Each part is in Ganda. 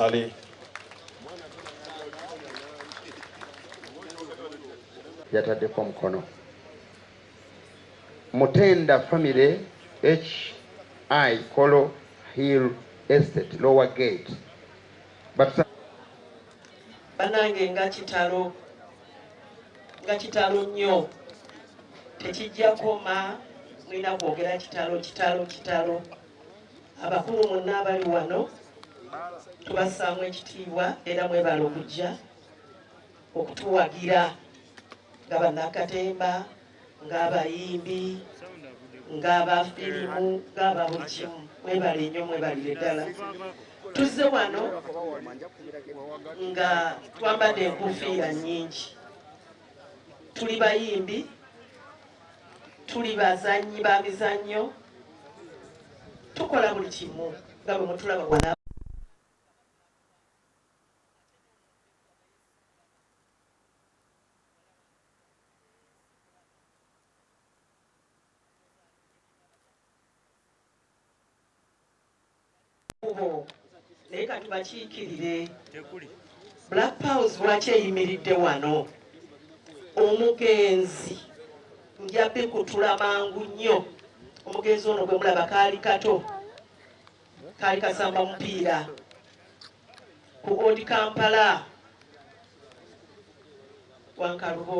Saleh. yataddeko omukono mutenda famire hi kolo hill estate lower gate banange nga kitalo nga kitalo nnyo tekijja koma mulina kwogera kitalo kitalo kitalo abakulu mwenna abali wano tubassaamu ekitiibwa era mwebala okujja okutuwagira nga bannakatemba ng'abayimbi ng'abafirimu ng'aba buli kimu mwebale nnyo mwebalire ddala tuzze wano nga twambadde enkufiira nnyingi tuli bayimbi tuli bazannyi ba mizannyo tukola buli kimu nga bwe mutulaba wala kubo naye katubakiikirire black powers lwaki eyimiridde wano omugenzi njabbi kutula mangu nnyo omugenzi ono gwe mulaba kaali kato kaali kasamba mupiira ku odi kampala wankalubo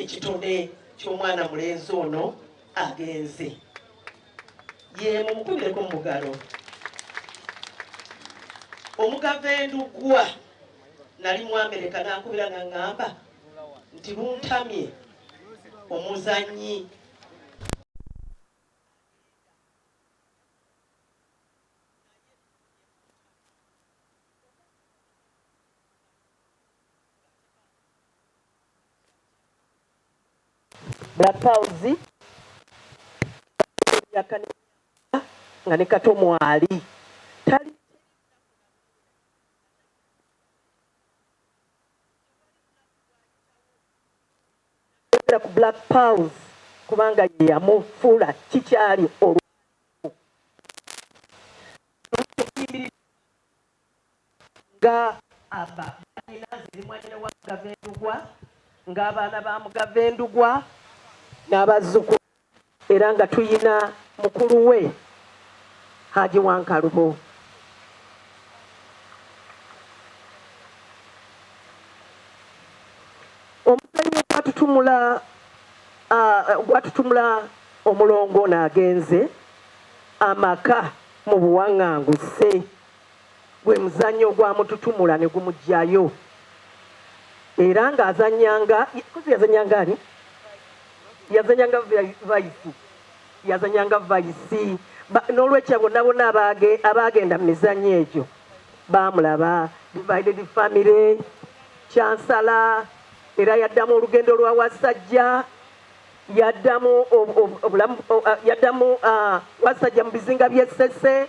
ekitone ky'omwana mulenzi ono agenze yemu mukubireko mumugalo omugava endugwa nali mwamereka nankubira naŋamba nti luntamye omuzanyi Black Pearls nga ne kato mwali tali ku Black Pearls kubanga ye yamufuula kikyali olw Nga aba nnyina nze ndi mwanyina wa Mugave Ndugwa nga abaana ba Mugave Ndugwa n'abazzukulu era nga tuyina mukulu we Haji Wankalubo. Omuzannyo gwatutumula gwatutumula omulongo ono agenze amaka mu buwaŋŋanguse. Gwe muzannyo ogwamututumula ne gumuggyayo era ng'azannyanga kuzi yazannyanga ani yazannyanga vayisi yazannyanga vayisi n'olwekyo abo nabona abaagenda mu mizannyo egyo baamulaba divided family kyansala era yaddamu olugendo lwa wasajja yaddamu yaddamu wasajja mu bizinga by'essese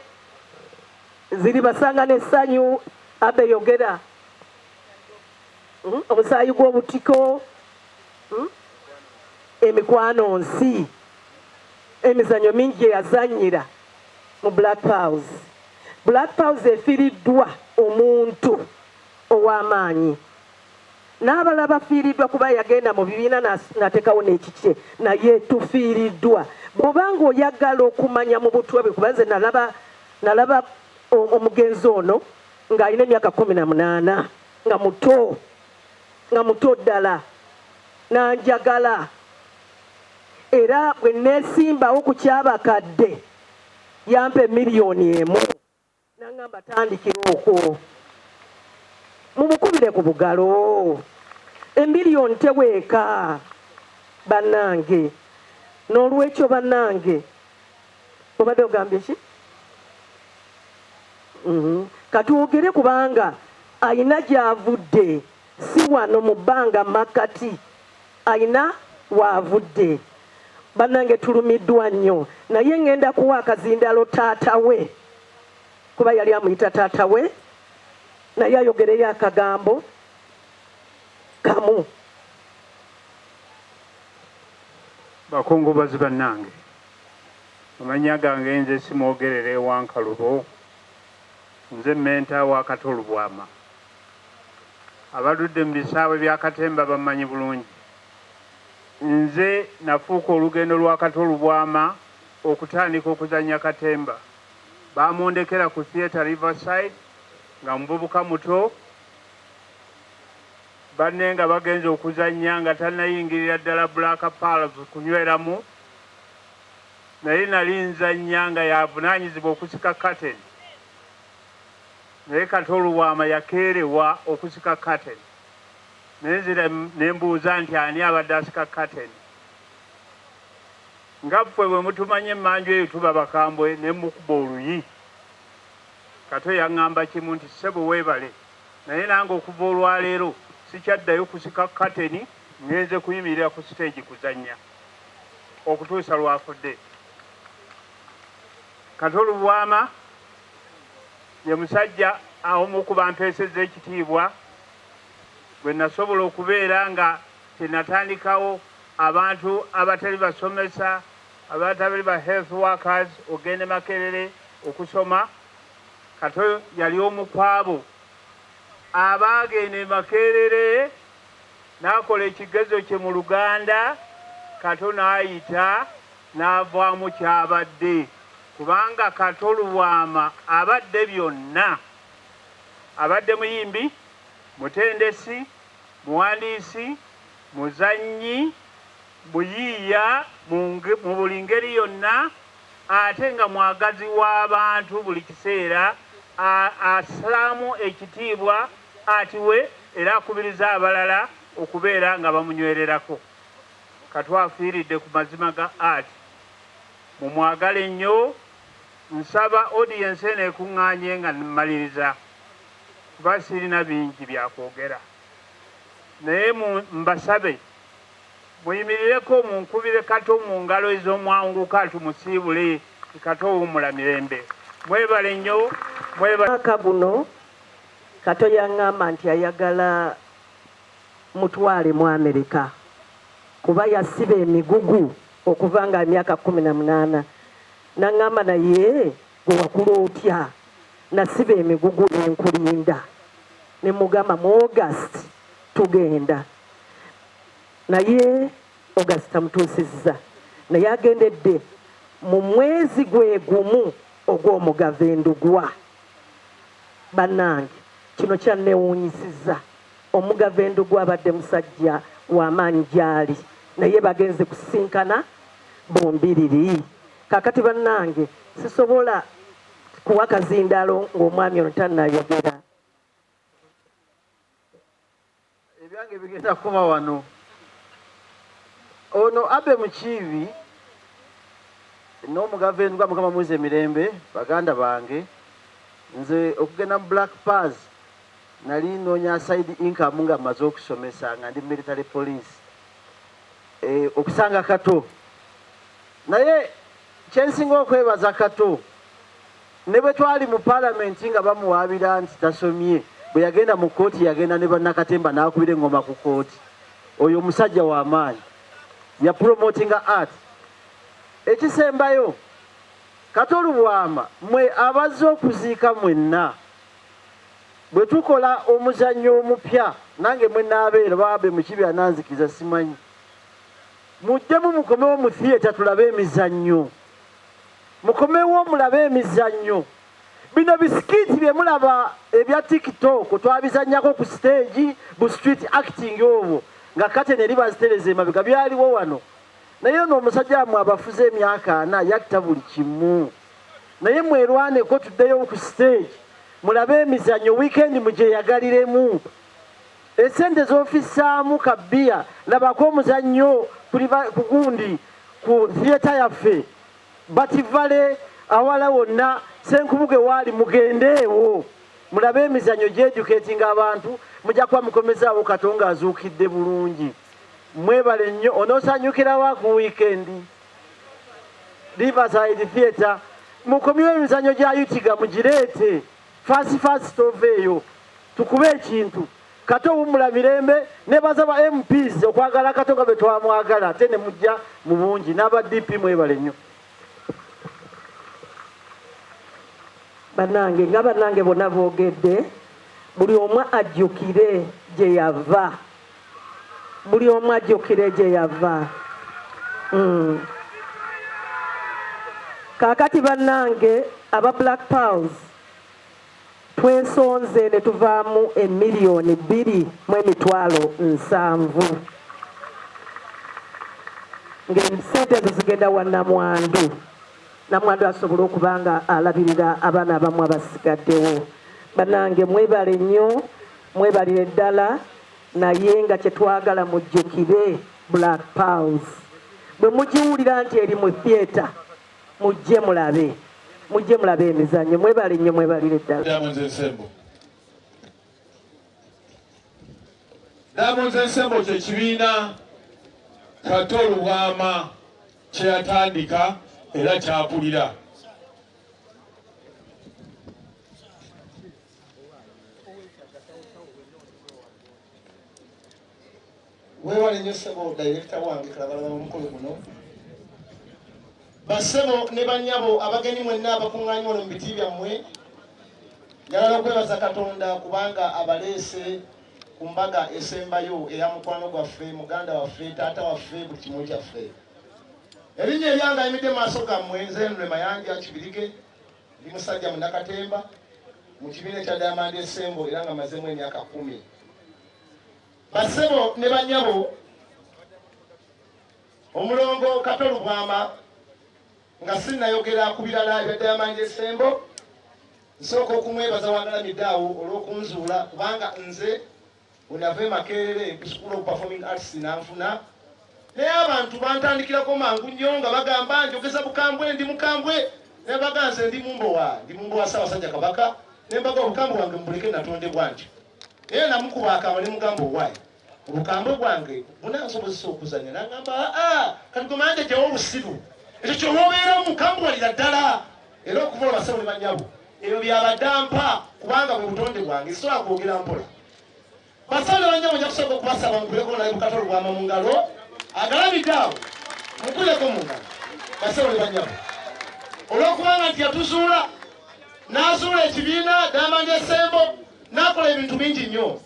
ziri basanga n'essanyu abe yogera hmm? omusaayi gw'obutiko hmm? emikwano nsi emizanyo mingi gye yazanyira mu black pows black pows efiriddwa omuntu ow'amaanyi n'abalala bafiiriddwa kuba yagenda mu bibiina n'ateekawo n'ekikye naye tufiiriddwa bw'oba ng'oyagala okumanya mu butwa bwe kuba nze nalaba nalaba omugenzi ono ng'alina emyaka kkumi na munaana nga muto nga muto ddala n'anjagala era bwe neesimbawo ku kyabakadde yampa emiliyoni emu Nangamba tandikira okwo mumukubire ku bugalo emiliyoni teweeka banange nolwekyo banange obadde ogambye ki mhm. katwogere kubanga ayina gyavudde Si wano mu bbanga mmakkati alina w'avudde. Bannange tulumiddwa nnyo naye ng'enda kuwa akazindaalo taata we kuba yali amuyita taata we naye ayogereyo akagambo kamu. Bakungubazi bannange, amannya gange nze Simwogerere Wankalubo, nze mmenta wa Kato Lubwama. abaludde mu bisaawe bya katemba bammanyi bulungi. Nze nafuuka olugendo lwa Kato Lubwama okutandika okuzannya katemba. Baamundekera ku Theatre Riverside nga muvubuka muto, banne nga bagenze okuzannya nga tannayingirira ddala Black Pearls kunyweramu, naye nali nzannya nga y'avunaanyizibwa okusika kateni. naye Kato Lubwama yakeerewa okusika kateni naye nzira ne mbuuza nti ani abadde asika kateni nga ffwe bwe mutumanya emmanju eyo tuba bakambwe ne mukuba oluyi Kato yaŋŋamba kimu nti ssebo weebale naye nange okuva olwaleero sikyaddayo kusika kateni ngenze kuyimirira ku siteegi kuzannya okutuusa lwafudde Kato Lubwama ye musajja omu ku bantu esezza ekitiibwa bwe nasobola okubeera nga kyenatandikawo abantu abatali basomesa abatabali ba health workers ogende makerere okusoma kato yali omu kwabo abaagenda e makerere n'akola ekigezo kye mu luganda kato n'ayita n'avaamu ky'abadde kubanga Kato Lubwama abadde byonna. Abadde muyimbi, mutendesi, muwandiisi, muzannyi, muyiiya mu buli ngeri yonna ate nga mwagazi w'abantu buli kiseera assaamu ekitiibwa atiwe era akubiriza abalala okubeera nga bamunywererako. Kato afiiridde ku mazima ga art. Mumwagale nnyo. Nsaba audience eno ekuŋŋaanye nga mmaliriza kuba sirina bingi bya kwogera naye mbasabe muyimirireko munkubire Kato mu ngalo ez'omwanguka tumusiibule Kato wummula mirembe. Mwebale nnyo mwebale. Mwaka guno Kato yang'amba nti ayagala Mutwale mu America kuba yasiba emigugu okuva nga emyaka kumi na munaana nangamba naye gwewakula otya nasiba emigugu nenkulinda nemugamba mu august tugenda naye august tamutuusizza naye agendedde mu mwezi gwegumu ogw'omugava endugwa bannange kino kyannewuunyisiza Omugave Ndugu abadde musajja wa maanyi gy'ali naye bagenze kusisinkana bombiriri. Kakati bannange sisobola kuwa kazindalo ng'omwami ono tannayogera. Ebyange bigenda kuba wano. Ono Abe Mukiibi n'omugave Ndugu Mukama muze mirembe baganda bange nze okugenda mu Black Paz Nali nnoonya side income nga mmaze okusomesa nga ndi military police e, okusanga Kato naye kyensinga okwebaza Kato ne bwe twali mu palamenti nga bamuwaabira nti tasomye bwe yagenda mu kkooti yagenda ne bannakatemba n'akubira eŋŋoma ku kkooti oyo omusajja wa maanyi ya promotinga art ekisembayo Kato Lubwama mwe abazze okuziika mwenna Bwe tukola omuzannyo omupya nange mwe naabeera baabe mukibi ananzikiza simanyi mujjemu mukomewo mu thiyeta tulabe emizannyo mukomewo mulabe emizannyo bino bisikiiti bye mulaba ebya tiktok twabizannyako ku siteegi bu street acting obwo nga kate neri bazitereza emabega byaliwo wano naye ono omusajja amwe abafuze emyaka ana yatta buli kimu naye mwerwaneko tuddeyo ku stage mulabe emizanyo wiikendi mugyeyagaliremu esente zofisaamu kabbiya labako omuzannyo ku gundi ku theatre yaffe bativale awala wonna senkubuge waali mugendeewo mulabe emizanyo gyejuketinga abantu mujja kuba mukomezaawo katonga azuukidde bulungi mwebale nnyo onosanyukirawa ku wiikendi Riverside Theatre mukomyewo emizanyo gya yutiga mugireete fasi fasi toveeyo tukube ekintu kato owummula mirembe nebaza ba mps okwagala kato nga bwe twamwagala ate ne mujja mu bungi n'aba dp mwebale nnyo banange nga banange bona boogedde buli omu ajjukire gye yava buli omu ajjukire gye yava mm. kaakati bannange aba black powers twesonze ne tuvaamu emiliyoni bbiri mu emitwalo nsanvu ng'esente ezo zigenda wa namwandu namwandu asobole okuba nga alabirira abaana abamu abasigaddewo bannange mwebale nnyo Mwebalire ddala naye nga kyetwagala mujjukire Black Pearls. Bwe mugiwulira nti eri mu theatre mujje mulabe mujje mulabe emizannyo. Mwebale nnyo mwebalire ddala. Diamonds Ensemble. Diamonds Ensemble kye kibiina Kato Lubwama kye yatandika era kyakulira. webale nyo sebo dayirekita wange kalabala omukolo guno basebo ne banyabo abagenyi mwenna abakuŋŋaanyi wano mu biti byammwe njagala okwebaza katonda kubanga abaleese ku mbaga esembayo eya mukwano gwaffe muganda waffe taata waffe buli kimu kyaffe erinnya eryangayimidde maaso gammwe nze nre mayanja kibirige Ndi musajja munakatemba mu kibiina ekya Diamond Ensemble era nga mazemu emyaka kumi. Basebo ne banyabo omulongo Kato Lubwama nga sinnayogera ku birala ebya Diamond Ensemble nsooka okumwebaza wagalamidde awo olw'okunzuula kubanga nze When I came Makerere to School of Performing Arts in Anfuna, naye abantu bantandikirako mangu nnyo nga bagamba njogeza bukambwe ndi mukambwe naye baganze ndi mumbowa ndi mumbowa ssaabasajja kabaka ne mbaga obukambwe bwange mubuleke natondebwa ntyo naye namukuba akama ne mugamba owaayi obukambwe bwange bunansobozesa okuzanya nangamba aa ah, ah, kati gwe manje gyewo obusiru ekyo kyoba obeeramu kambwalira ddala era okuva obasawo ne banyabo ebyo byabadde mpa kubanga bwe butonde bwange sisobola kwogera mpola basawo ne banyabo nja kusooka okubasaba mukuleko naye bukatolo bwama mu ngalo agalabidde awo mukuleko mu ngalo basawo ne banyabo olwokubanga nti yatuzuula n'azuula ekibiina diamond esembo n'akola ebintu bingi nnyo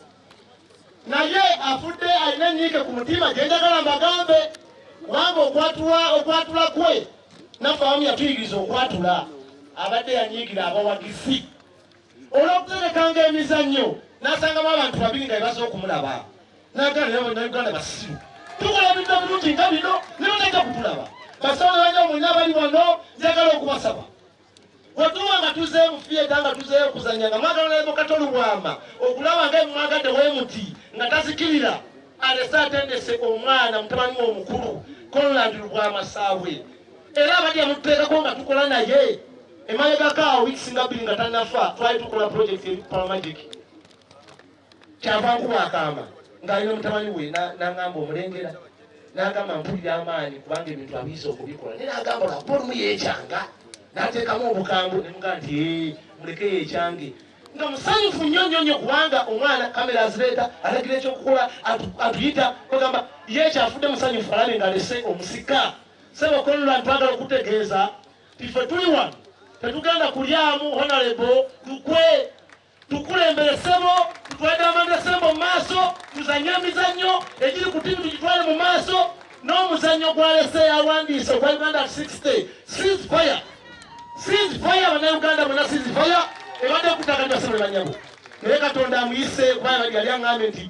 naye afudde alina enyiike ku mutima gyenjagala mbagambe kubanga okwatula okwatula kwe naffe abamu yatuyigiriza okwatula abadde yanyiigira abawagizi olwokuterekanga emizannyo nasangamu abantu babiri nga bebaza okumulaba naganauganda basiru tukola bintu ebirungi nga bino nibatajja kutulaba basawo nabanyamu nabali wano njagala okubasaba wetuba nga tuzeeyo mu fiyeta nga tuzeeyo okuzanya nga mwagala naye mukata olubwama okulaba nga emwagadde wemuti nga tazikirira alese atendese omwana mutabani we omukulu conland lubwama saabwe era abadya mututeekako nga tukola naye emabegako awo wikisinga bbiri nga tanafa twali tukola projekiti eri palamagic kyava nkuba akaama ng'ali n'omutabani we n'aŋamba omulengera n'agamba mpulira amaanyi kubanga ebintu abiyiza okubikola naye n'agamba lwakuba olumu yeekyanga n'ateekamu obukambwe ne mugaa nti muleke yeekyange nga musanyufu nnyo nnyo nnyo kubanga omwana kamera azireeta alagira ekyokukola atuyita bagamba ye kyafudde musanyufu alabe nga alese omusika sebo kolula ntwagala okutegeeza tife tuli wano tetugenda kulyamu honalebo lukwe tukulembere sebo tutwalire amanda sembo mu maaso tuzanye emizannyo egiri ku tiimu tugitwale mu maaso n'omuzannyo gwalese yawandiise ogwa uganda 60 seas fire seas fire banauganda bona seas fire ebadde okutaka nti basebule banyabo naye katonda amuyise kubanga yali aŋambe nti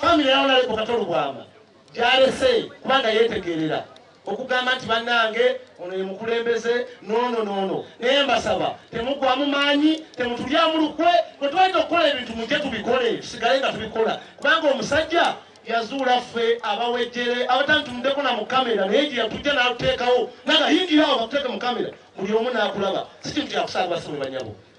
Famire ya Honorable Kato Lubwama gyalese kubanga yeetegeerera okugamba nti bannange ono ye mukulembeze noono noono naye mbasaba temugwamu maanyi temutulyamu lukwe bwe twalina okukola ebintu mujje tubikole tusigale nga tubikola kubanga omusajja yazuula ffe abawejjere abatantumuddeko na mu kamera naye gye yatujja n'atuteekawo nagayingira awo batuteeke mu kamera buli omu n'akulaba si kintu kyakusaalibwa sibwe banyabo